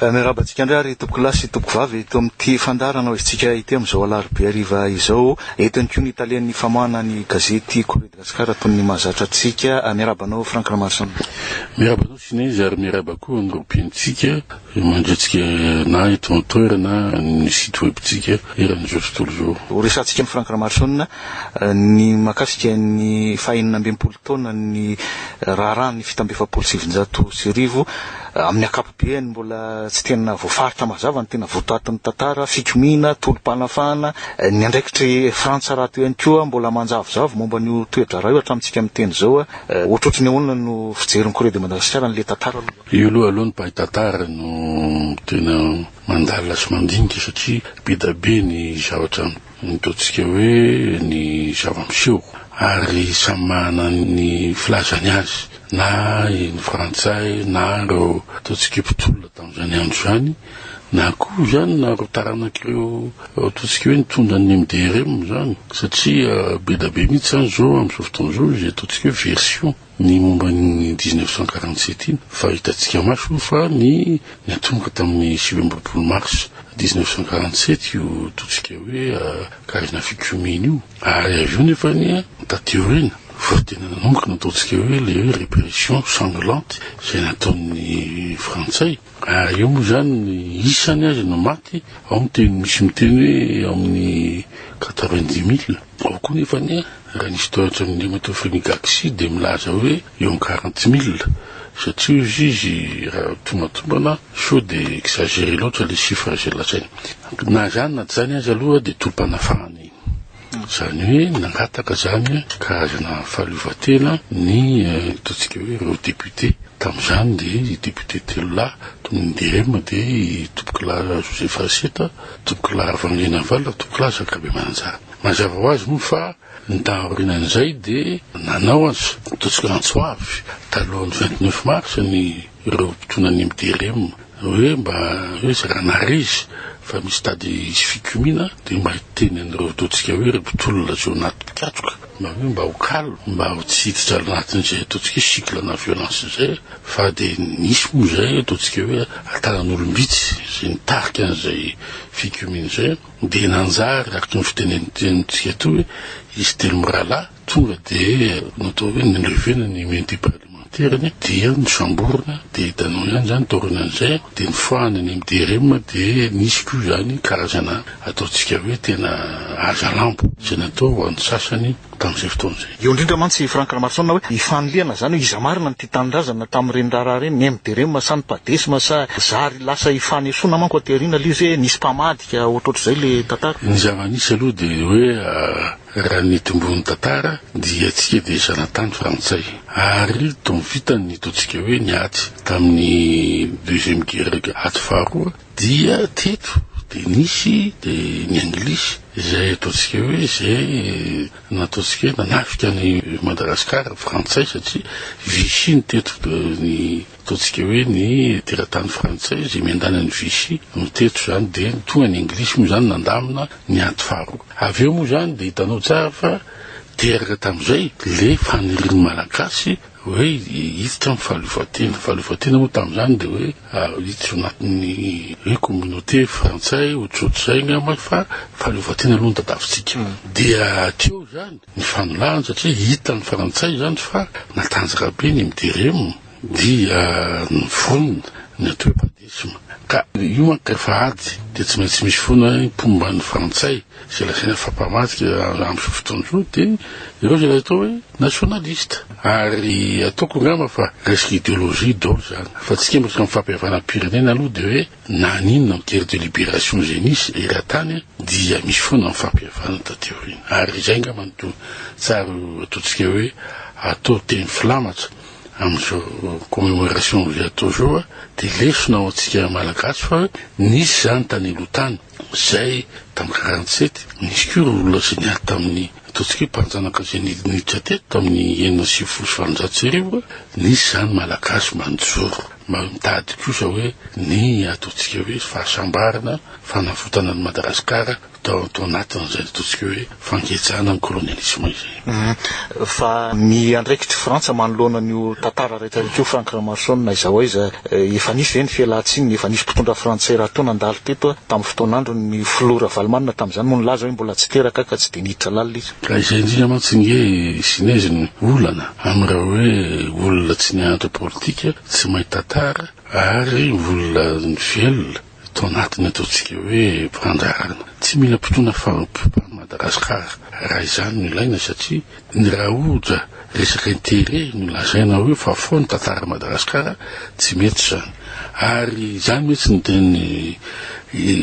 Miarahaba antsika indray ary tompokolahy sy tompokovavy eto amin'ity fandaharana hoezintsika ity amin'izao alarobia hariva izao. Eto ihany koa ny talen'ny famoahana ny gazety Courrier de Gascar toy ny mahazatra antsika. Miarahaba anao Franck Ramaroson. Miarahaba anao Sinézy ary miarahaba koa ny robiantsika mandrintsika na eto an-toerana na amin'ny site web-ntsika eran'ny Jojo Tolozoro. Ho resahantsika amin'i Franck Ramaroson ny mahakasika ny faha enina ambin'ny folo taonan'ny raharahan'ny fito amby efapolo sy sivinjato sy arivo Amin'ny ankapobeany, mbola tsy tena voafaritra mazava ny tena votoatin'ny tantara, fikomiana, tolom-panafahana. Ny andraikitry Frantsa rahateo ihany koa mbola manjavozavo momba an'io toe-draharaha io hatramintsika miteny izao. Ohatrohatry ny ahoana no fijerin'i Corée de Madagascar an'ilay tantara aloha? Io aloha aloha ny mpahay tantara no tena mandalina sy mandinika satria be dia be ny zavatra ny taontsika hoe ny zava-miseho ary samy manana ny filazany azy na ny frantsay na ireo ataontsika mpitolona tamin'izany andro izany na koa izany na ireo taranak'ireo ataontsika hoe nitondra ny MDRM izany satria be dia be mihitsy izany izao amin'izao fotoana izao izay ataontsika hoe version. Ny momba ny dix neuf cent quarante sept iny fa hitantsika maso io fa ny niantomboka tamin'ny sivy amby roapolo mars dix neuf cent quarante sept io totsika hoe karazana fikomiana io ary avy eo nefa ny taty aoriana fa tena nanomboka ny ataontsika hoe le hoe répression sanglante izay nataon'ny frantsay ary eo moa izany ny isany azy no maty ao ny teny misy miteny hoe ao amin'ny quatre vingt dix mille Ao koa nefa anie, raha nisy toetra ny Nemeto Fumigaxi dia milaza hoe eo am quarante mille satria hozy izy raha tombantombana sao dia exagere loatra ilay chiffre izay lazainy. Na izany na tsy izany aza aloha dia tolom-panafahana iny. Izany hoe nangataka izany karazana fahaleovantena ny ataontsika hoe ireo députés. Tamin'izany dia i député telo lahy, toy ny DREM dia i Topikolahy Joseph Raseta Tompokolahy Ravalondrinavalona, Tompokolahy Zakabe Mananjara. Mazava ho azy moa fa ny taorianan'izay dia nanao azy totsika antso avy talohan'ny vingt neuf mars ny ireo mpitonan'ny MDRM hoe mba hoe zara narizy fa misy tady hisy fikomiana dia mba hiteny an'ireo totsika hoe ry mpitolona tsy ho anaty mpikatroka mba hoe mba ho calme mba ho tsy hiditra anatin'izay totsika hoe cycle-na violence izay Fa dia nisy moa izay ataontsika hoe tanan'olom-bitsy izay nitarika an'izay fikomiana izay an! Dia nanjary araka ny fitenenentsika atoa hoe izy telo mirahalahy tonga dia natao hoe nilevena ny immunité parlementaire-ny dia nosamborina dia hitanao ihany izany taorianan'izay an! Dia nofahana ny MDRM dia nisy koa izany karazana ataontsika hoe tena hazalambo izay natao ho an'ny sasany tamin'izay fotoana izay. Eo indrindra mantsy i Franck Ramarosaona hoe i fanilihana izany hoe iza marina no tia tanindrazana tamin'ireny raharaha ireny, ny MDREM sa ny padesma sa zary lasa ifanesoana manko aty aoriana ilay izy hoe nisy mpamadika ohatrohatr'izay ilay tantara. Ny zava-nisy aloha dia hoe raha ny eto ambony tantara dia tsika dia zanatany frantsay ary tao vitany ny ataontsika hoe ny ady tamin'ny deuxième guerre aty faharoa, Dia teto dia nisy dia ny anglisy izay ataontsika hoe izay nataontsika hoe nanafika an'i Madagasikara ny frantsay satria Vichy no teto ny ataontsika hoe ny teratany frantsay izay miandanan'i Vichy no teto izany dia ny tonga ny anglisy moa izany nandamina ny ady faharoa. Avy eo moa izany dia hitanao tsara fa teraka tamin'izay ilay fanirian'ny malagasy Hoe hiditra amin'ny fahaleovantena. Fahaleovantena moa tamin'izany dia hoe hiditra ao anatin'ny hoe communauté frantsay, ohatrohatr'izay angamba fa fahaleovantena aloha no tadiavintsika. Dia hatreo izany ny fanilahana satria hitan'ny frantsay izany fa natanjaka be ny MDRM dia niforona ny anteo-padiana. Ka io manko rehefa ady dia tsy maintsy misy foana ny mpomba ny frantsay izay lazaina fa mpamadika amin'izao fotoana izao dia ireo izay atao hoe nationaliste ary ataoko angamba fa resaka ideologie dol izany fa tsy kemba resaka mifampihavanam-pirenena aloha dia hoe na n'inona ny guerre de libération izay nisy eran-tany dia misy foana ny fampihavanana taty aoriana ary izay angamba no tsara ataontsika hoe atao teny filamatra amin'izao commemoration vous êtes toujours dia lesona ho antsika malagasy fa hoe nisy izany tany aloha tany izay tamin'ny quarante sept nisy koa ireo olona izay niady tamin'ny ataontsika hoe mpanjanaka izay niditra teto tamin'ny enina sy sivifolo sy valonjato sy arivo nisy izany malagasy manjoro mba mitady kosa hoe ny ataontsika hoe fahasambarana fanavotana an'i madagasikara tao tao anatiny izay ataontsika hoe fangejana ny kolonialisma izay. Fa ny andraikitr'i Frantsa manoloana an'io tantara rehetrarehetra io Franck Ramarson aiza ho aiza eh, efa nisy ve ny fialantsiny, efa nisy mpitondra frantsay raha toa nandalo teto eh, tamin'ny fotoan'androny ny filoha Ravalomanana tamin'izany moa nilaza hoe mbola tsy teraka ka tsy dia niditra lalina izy. Ka izay indrindra mantsy nge Zinez no olana amin'ireo hoe olona tsy nianatra politika, tsy mahay tantara ary olona velona. Tao anatiny ataontsika hoe fandraharana. Tsy mila mpitona faharoa-pokoa any Madagascar raha izany no ilaina satria ny rahoja resaka intérêt no lazaina hoe fa fo ny tantara Madagascar tsy mety izany. Ary izany mihitsy no teny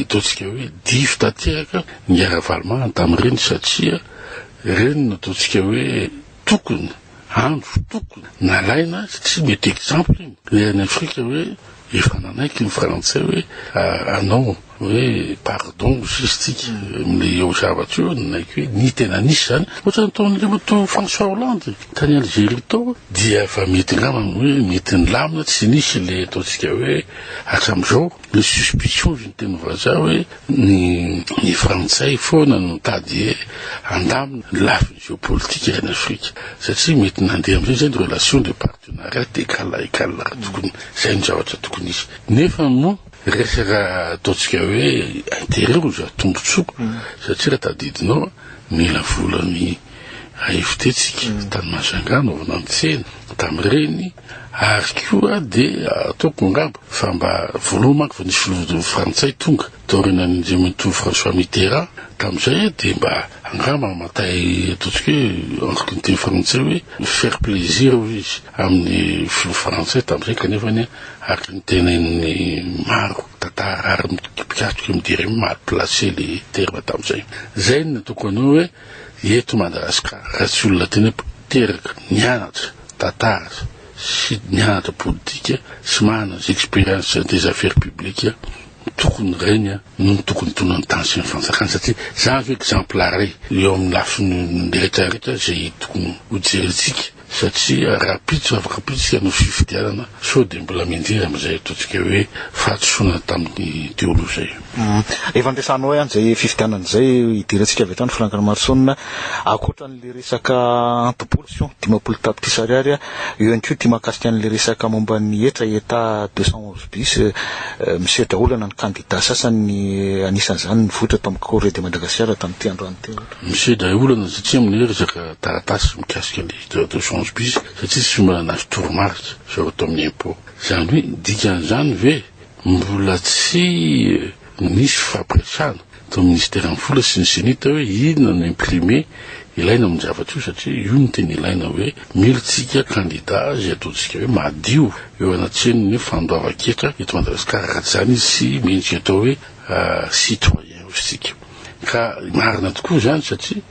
ataontsika hoe diso tanteraka ny Ravalomahana tamin'ireny satria ireny no ataontsika hoe tokony andro tokony nalaina satria mety exemple iny le any afrika hoe efa nanaiky ny frantsay hoe anao hoe pardon sisy tsika amle eo zavatra io nanaiky hoe ny tena nisy zany ohatra ny taon'andriamatoa françois hollande tany algérie tao dia efa mety angamba hoe mety nilamina tsy nisy le ataontsika hoe hatram'izao Le suspicion ozy ny teny vazaha hoe ny ny frantsay foana no mitady he handamina ny lafiny geopolitika any afrika satria mety nandeha amizay zay ny relation de partenariat de kala et kala tokony zay ny zavatra tokony hisy nefa mo resaka ataontsika hoe interet ozy raha tombotsoa satria raha tadidinao mila vola ny AFT tsika tany Mahajanga anaovana ny tsena tamin'ireny Ary koa dia ataoko angamba fa mba voaloha manko vao nisy filoha frantsay tonga tao aorianan'ny Andriamatoa François Mitterrand tamin'izay dia mba angamba hamantay ataontsika hoe entre ny teny frantsay hoe faire plaisir hoy izy amin'ny filoha frantsay tamin'izay kanefa ny araka ny tenenin'ny maro tantara ary mpikatroka midiry mal placé le terme tamin'izay. Izay no nataoko anao hoe Eto Madagasikara, raha tsy olona tena teraka, nianatra tantara sy nianatra politika sy manana des expériences des affaires publiques, tokony ireny no tokony tonon'ny tany sy ny fanjakana satria izany no exemplare eo amin'ny lafiny rehetra rehetra izay tokony hojerentsika. satria rahampitso afaka pitsika no fifidianana sao dia mbola mindira amin'izay ataontsika hoe fahadisoana tamin'ny daholo izay. Efa ampiasanao ihany izay fifidianana izay hidirantsika avy hatrany Franck Ramarosaonina, ankoatran'ilay resaka anti-pollution dimampolo tapitrisa ariary eo ihany koa ity mahakasika an'ilay resaka momba ny hetra eta deux cent onze bis misedra olana ny kandida sasany anisan'izany ny vohitra tao amin'ny Corée de Madagascar tamin'ity androany ity. Miseho daholo ianao satria amin'ny resaka taratasy mikasika ny droit de change bis satria tsy fihinanana azy toromarika sao atao amin'ny impôt. Izany hoe dikan'izany ve mbola tsy nisy fifampiresahana tao amin'ny minisiteran'ny vola sy ny Cenit hoe inona no imprimer ilaina amin'ny zavatra io satria io no tena ilaina hoe mila isika kandida izay ataontsika hoe madio eo anatrehan'ny fandoavan-ketra eto Madagasikara raha tsy izany izy tsy mendrika atao hoe citoyen hozy tsika ka marina tokoa izany satria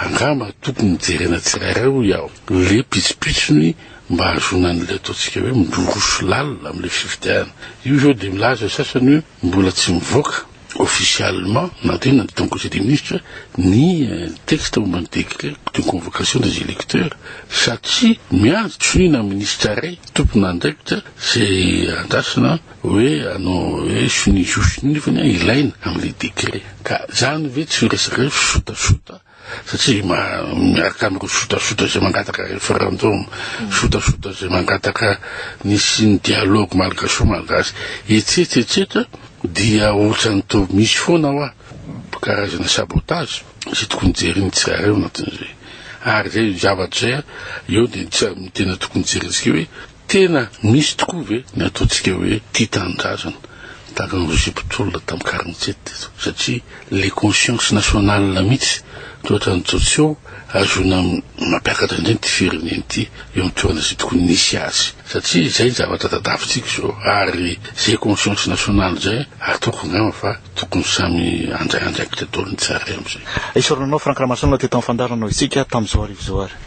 angamba tokony jerena tsirairay hoy aho le pitsopitsony mba hahazoana an'le ataontsika hoe midoroso lalina amle fifidianana io zao de milaza ny sasany hoe mbola tsy mivoaka officiellement na de nandeha tao conseil des ministres ny euh, texte momba ny décret de convocation des électeurs satria miandry tsoniana ministre ray tompon'andraikitra zay andrasana Hoe anao hoe sonia zo sonia nefa ny ahy ilaina amin'ilay décret. Ka izany ve tsy resadrefy sotasota satria miaraka amin'ireo sotasota izay mangataka référendum, sotasota izay mangataka ny hisian'ny dialogue malgaso-malgache etsetra etsetra dia ohatran'ny toa misy foana hoa karazana sabotage izay tokony jerin'ny tsirairay ao anatin'izay. Ary izay zavatra izay eo dia ny tena tokony jerentsika hoe Tena misy tokoa ve ny ataontsika hoe tia tanindrazana tahaka ny Roger Mpitolona tamin'ny quarante sept teto satria le conscience nationale mihitsy toa ohatran'ny tsy tsy eo ahazoana mampiakatra indray ity firenena ity eo amin'ny toerana izay tokony nisy azy satria izay zavatra tadavintsika izao ary izay conscience nationale izay ataoko angamba fa tokony samy handray andraikitra daholo ny tsirairay amin'izay. Isaorana anao Franck Ramasinona teto amin'ny fandaharana hoy isika tamin'izao arivo izao ary.